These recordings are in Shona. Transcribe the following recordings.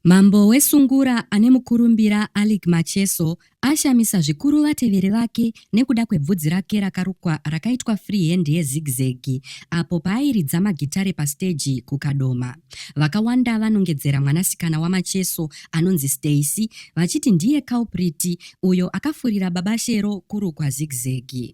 Mambo weSungura ane mukurumbira Alick Macheso ashamisa zvikuru vateveri vake nekuda kwebvudzi rake rakarukwa rakaitwa free hand yezigzag apo paairidza magitare pasiteji kuKadoma. Vakawanda vanongedzera mwanasikana waMacheso anonzi Stacey vachiti ndiye culprit uyo akafurira Baba Shero kurukwa zigzag.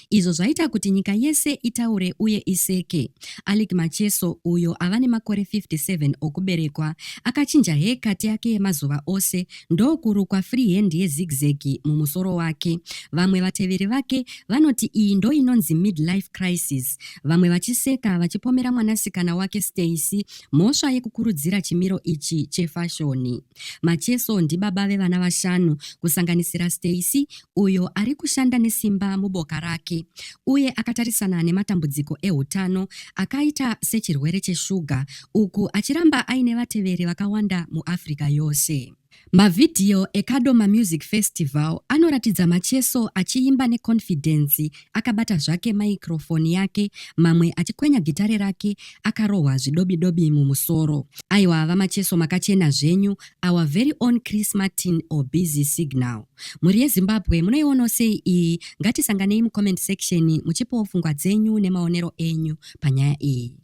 izvo zvaita kuti nyika yese itaure uye iseke. Alick Macheso, uyo ava nemakore 57 okuberekwa, akachinja haircut yake yemazuva ose ndokurukwa freehand yezigzag mumusoro wake. Vamwe vateveri vake vanoti iyi ndoinonzi midlife crisis, vamwe vachiseka vachipomera mwanasikana wake Stacey mhosva yekukurudzira chimiro ichi chefashoni. Macheso ndibaba vevana vashanu kusanganisira Stacey uyo ari kushanda nesimba muboka rake uye akatarisana nematambudziko eutano akaita sechirwere cheshuga uku achiramba aine vateveri vakawanda muAfrica yose. Mavhidhiyo eKadoma Music Festival anoratidza Macheso achiimba neconfidence Akabata zvake maikrofoni yake mamwe achikwenya gitare rake akarohwa zvidobidobi mumusoro. Aiwa vamacheso makachena zvenyu our very own Chris Martin or Busy Signal. Mhuri yeZimbabwe munoionawo sei iyi? Ngatisanganei mucomment section muchipawo pfungwa dzenyu nemaonero enyu panyaya iyi.